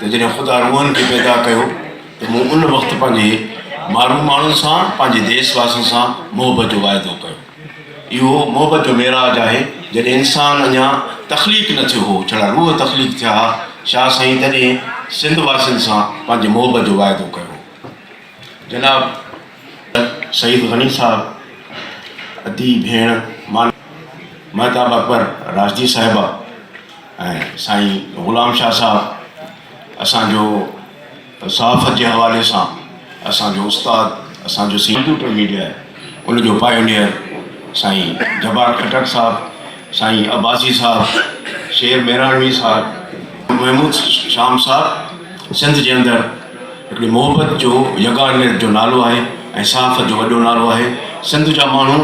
ته جڏهن خدا روحن کي پيدا ڪيو ته مون ان وقت پنهنجي مارون ماڻهن سان پنهنجي ديس واسين سان محبت جو واعدو ڪيو. اهو محبت جو معراج آهي جڏهن انسان اڃا تخليق نه ٿيو هو جھڙا روح تخليق ٿيا ها شاهه سائين تڏهن سنڌ واسين سان پنهنجي محبت جو واعدو ڪيو هو جناب سيد غني صاحب ادي ڀيڻ مهتاب اڪبر راشدي صاحبه. ۽ سائين غلام شاھ صاحب اسان جو صحافت جي حوالي سان اسان جو استاد اسان جو سيڪيوٽر ميڊيا آھي ان جو پائونيئر سائين جبار خٽڪ صاحب سائين عباسي صاحب شير ميراڻوي صاحب محمود شام صاحب سنڌ جي اندر ھڪڙي محبت جو يگانت جو نالو آھي ۽ صحافت جو وڏو نالو آھي سنڌ جا ماڻھو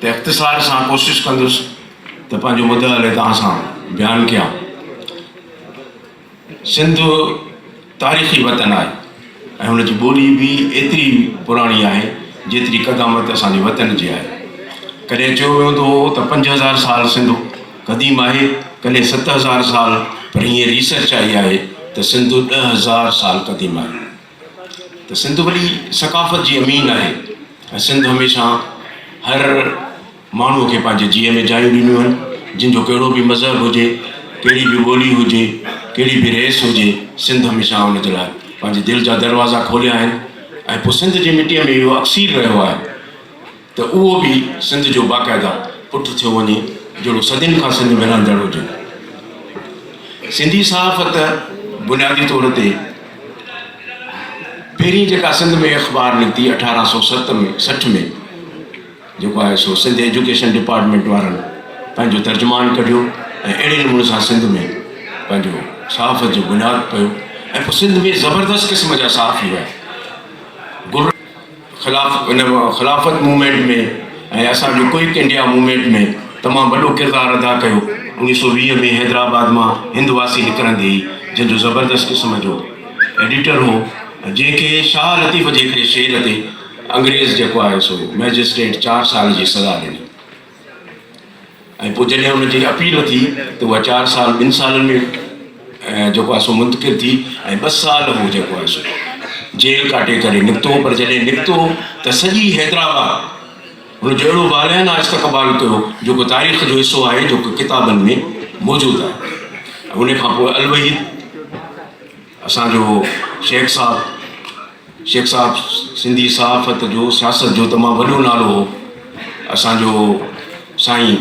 ته اختصار سان ڪوشش ڪندس ته پنهنجو مدعا علي توهان سان بيان ڪيان. سنڌ تاريخي وطن آهي ۽ هن جي ٻولي به ايتري پراڻي آهي جيتري قدامت اسان جي وطن جي آهي. ڪڏهن چيو ويندو هو ته پنج هزار سال سنڌ قديم آهي، ڪڏهن ست هزار سال پر هينئر ريسرچ آئي آهي ته سنڌ ڏهه هزار سال قديم آهي. ته سنڌ وڏي ثقافت جي امين آهي ۽ سنڌ هميشه هر ماڻهوء کي پنهنجي جيء ۾ جايون ڏنيون آهن جن جو ڪهڙو به مذهب هجي ڪهڙي به ٻولي هجي ڪهڙي به ريس هجي سنڌ هميشه ان جي لاء پنهنجي دل جا دروازا کوليا آهن ۽ پوء سنڌ جي مٽيء ۾ اهو اڪسير رهيو آهي ته اهو به سنڌ جو باقاعده پٽ ٿيو وڃي جهڙو صدين کان سنڌ ۾ رهندڙ هجي. سنڌي صحافت بنيادي طور تي پهرين جيڪا سنڌ ۾ اخبار نڪتي اٺارهن سؤ ست ۾ سٺ ۾ جيڪو آهي سو سنڌ ايجوڪيشن ڊپارٽمينٽ وارن پنهنجو ترجمان ڪڍيو ۽ اهڙي نموني سان سنڌ ۾ پنهنجو صحافت جو بنياد پيو ۽ پوء سنڌ ۾ زبردست قسم جا صحافي هيا خلاف ان خلافت موومينٽ ۾ ۽ اسان جي ڪوئڪ انڊيا موومينٽ ۾ تمام وڏو ڪردار ادا ڪيو اوڻيھ سو ويھ ۾ حيدرآباد مان ھند واسي نڪرندي ئي جنھن جو زبردست قسم جو ايڊيٽر ھو جنھن کي شاھ لطيف جي ھڪڙي شعر تي انگريز جيڪو آھي سو مئجسٽريٽ چار سال جي سزا ڏني ۽ پوء جڏهن ان جي اپيل ٿي ته اها چار سال ٻن سالن ۾ جيڪو آهي سو منتقل ٿي ۽ ٻه سال هو جيڪو آهي سو جيل ڪاٽي ڪري نڪتو پر جڏهن نڪتو ته سڄي حيدرآباد ان جو اهڙو والهانه استقبال ڪيو جيڪو تاريخ جو حصو آهي جيڪو ڪتابن ۾ موجود آهي ان کان پوء الوحيد اسان جو شيخ صاحب شيخ صاحب سنڌي صحافت جو سياست جو تمام وڏو نالو هو اسان جو سائين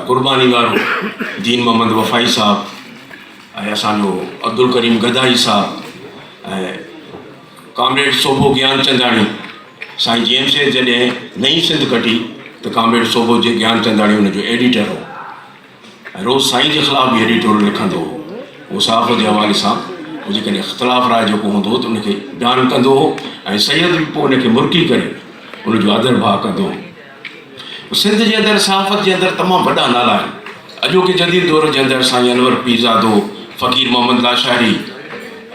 قرباني وارو دين محمد وفائي صاحب ۽ اسان جو عبدالڪريم گدائي صاحب ۽ ڪامريڊ صوبو گيان چنداڻي سائين جي ايم سيد جڏهن نئين سنڌ ڪٽي ته ڪامريڊ صوبو جي گيان چنداڻي ان جو ايڊيٽر هو روز سائين جي خلاف به ايڊيٽوريل لکندو هو. هو صحافت جي حوالي سان به جيڪڏهن اختلاف راء جوڪو هوندو هو ته ان کي بيان ڪندو هو ۽ سيد به پوء ان کي مرڪي ڪري ان جو آڌر ڀاء ڪندو هو. سنڌ جي اندر صحافت جي اندر تمام وڏا نالا آهن. اڄوڪي جديد دور جي اندر سائين انور پيرزادو، فقير محمد لاشاري،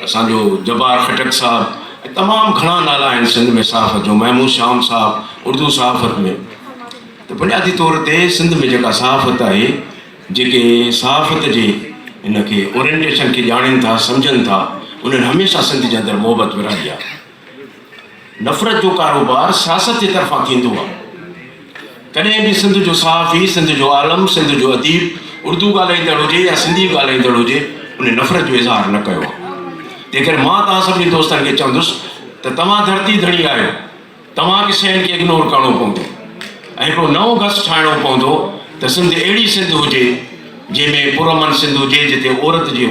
اسان جو جبار خٽڪ صاحب ۽ تمام گهڻا نالا آهن سنڌ ۾ صحافت جو محمود شام صاحب اردو صحافت ۾. ته بنيادي طور تي سنڌ ۾ جيڪا صحافت آهي، جيڪي صحافت جي ان کي اورينٽيشن کي ڄاڻين ٿا، سمجهن ٿا، انهن هميشه سنڌ جي اندر محبت ورهائي آهي. نفرت جو ڪاروبار سياست جي طرفان ٿيندو آهي. ڪڏهن به سنڌ جو صحافي، سنڌ جو عالم، سنڌ جو اديب اردو ڳالهائيندڙ هجي يا سنڌي ڳالهائيندڙ هجي، ان نفرت جو اظهار نه ڪيو آهي. تنهن ڪري مان توهان سڀني دوستن کي چوندس ته توهان ڌرتي ڌڻي آهيو. توهان کي شين کي اگنور ڪرڻو پوندو ۽ هڪڙو نئون گس ٺاهڻو پوندو ته سنڌ اهڙي سنڌ هجي جنهن ۾ پرامن سنڌ هجي جتي عورت جي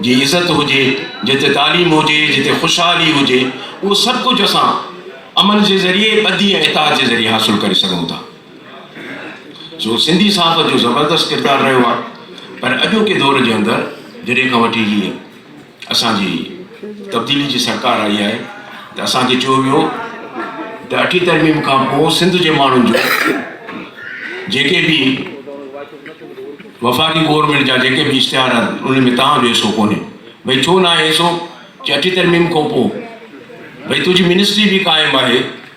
جي عزت هجي جتي تعليم هجي جتي خوشحالي هجي اهو سڀ ڪجهه اسان امن جي ذريعي ٻڌي ۽ اتحاد جي ذريعي حاصل ڪري سگهون ٿا سو سنڌي صحافت جو زبردست ڪردار رهيو آهي پر اڄوڪي دور جي اندر جڏهن کان وٺي هيء اسان جي تبديلي جي سرڪار آئي آهي ته اسان کي چيو ويو ته اٺين ترميم کان پوء سنڌ جي ماڻهن جو جيڪي به وفاقي گورنمينٽ جا جيڪي به اشتهار آهن ان ۾ تنهن جو حصو ڪونهي ڀائی ڇو نه آهي حصو چي اٺين ترميم کان پوء ڀائی تنهنجي منسٽري به قائم آهي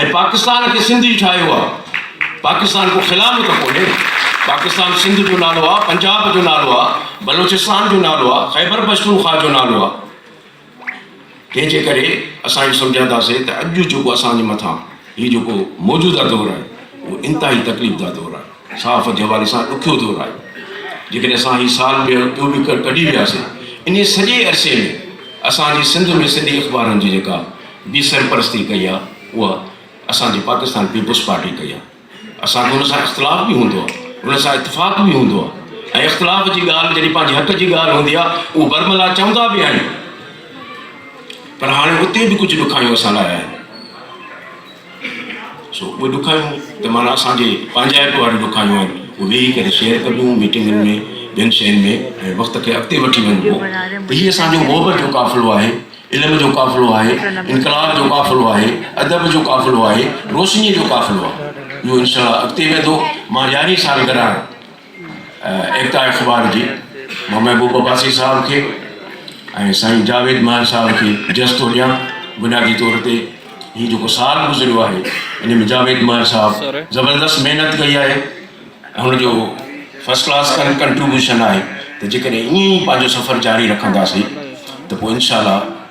۽ پاڪستان کي سنڌي ٺاهيو آ پاڪستان ڪو خلام ته ڪونهي پاڪستان سنڌ جو نالو آ پنجاب جو نالو آ بلوچستان جو نالو آ خيبر پشتونخوا جو نالو آ تنهن جي ڪري اسان اهو سمجهان ٿا سي ته اڄ جيڪو اسان جي مٿان هي جيڪو موجوده دور آهي اهو انتهائي تڪليف ده دور آهي صحافت جي حوالي سان ڏکيو دور آهي، جيڪڏهن اسان هي سال ٻيهر ٻيو به ڪڍي وياسين، انهيء سڄي عرصي ۾ اسان جي سنڌ ۾ سنڌي اخبارن جي جيڪا به سرپرستي ڪئي آهي، اها اسان جي پاڪستان پيپلز پارٽي ڪئي آهي. اسان کي ان سان اختلاف به هوندو آهي، ان سان اتفاق به هوندو آهي ۽ اختلاف جي ڳالهه جڏهن پنهنجي حق جي ڳالهه هوندي آهي، اهو برملا چوندا به آهيون، پر هاڻي اتي به ڪجهه ڏکايون اسان لاء آهن. سو اهي ڏکايون ته معنيٰ اسان جي پنهنجائپ واريون ڏکايون آهن اهي ويهي ڪري شيئر ڪبيون ميٽنگن ۾ ٻين شين ۾ ۽ وقت کي اڳتي وٺي وڃبو ته هي اسان جو محبت جو قافلو آهي علم جو قافلو آهي انقلاب جو قافلو آهي ادب جو قافلو آهي روشنيء جو قافلو آهي اهو انشاء الله اڳتي ويندو مان يارهين سالگرهه آهي ايڪتا اخبار جي محمد محبوب عباسي صاحب کي ۽ سائين جاويد ماهر صاحب کي جس ٿو ڏيان بنيادي طور تي هي جيڪو سال گذريو آهي ان ۾ جاويد ماهر صاحب زبردست محنت ڪئي آهي هن جو فرسٽ ڪلاس ڪنٽريبيوشن آهي ته جيڪڏهن ائين ئي پنهنجو سفر جاري رکنداسي ته پوء انشاء الله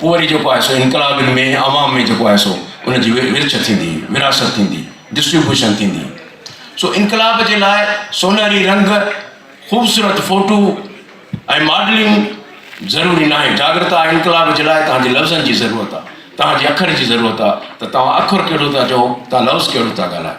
پوء وري جيڪو آهي سو انقلابين ۾ عوام ۾ جيڪو آهي سو ان جي ورڇ ٿيندي، ورهاست ٿيندي، ڊسٽريبيوشن ٿيندي. سو انقلاب جي لاء سونهري رنگ، خوبصورت فوٽو ۽ ماڊلنگ ضروري ناهي. جاڳرتا ۽ انقلاب جي لاء توهان جي لفظن جي ضرورت آهي، توهان جي اکر جي ضرورت آهي ته توهان اکر ڪهڙو ٿا چئو، توهان لفظ ڪهڙو ٿا ڳالهايو.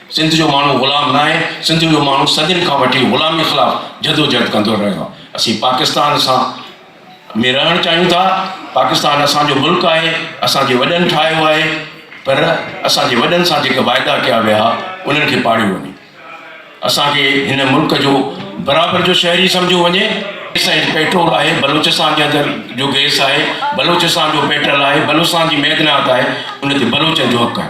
سنڌ جو ماڻهو غلام ناهي، سنڌ جو ماڻهو صدين کان وٺي غلامي خلاف جدوجهد ڪندو رهيو آهي. اسين پاڪستان سان ۾ رهڻ چاهيون ٿا، پاڪستان اسان جو ملڪ آهي، اسان جي وڏن ٺاهيو آهي، پر اسان جي وڏن سان جيڪي واعدا ڪيا ويا ها انهن کي پاڙيو وڃي. اسان کي هن ملڪ جو برابر جو شهري سمجهيو وڃي. گئس ۽ پيٽرول آهي، بلوچستان جي اندر جو گئس آهي، بلوچستان جو پيٽرل آهي، بلوچستان جي معدنيات آهي، ان تي بلوچن جو حق آهي.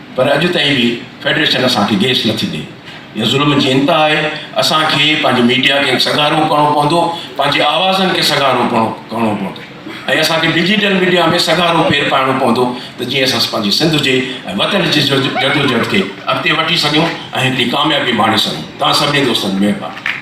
پر اڄ تائين به فيڊريشن اسان کي گيس نه ٿي ڏئي. اها ظلم جي انتها آهي. اسان کي پنهنجي ميڊيا کي سگهارو ڪرڻو پوندو، پنهنجي آوازن کي سگهارو ڪرڻو پوندو ۽ اسان کي ڊجيٽل ميڊيا ۾ سگهارو پير پائڻو پوندو ته جيئن اسان پنهنجي سنڌ جي ۽ وطن جي جدوجهد کي اڳتي وٺي سگهيون ۽ هتي ڪاميابي ماڻي سگهون. توهان سڀني دوستن مهرباني.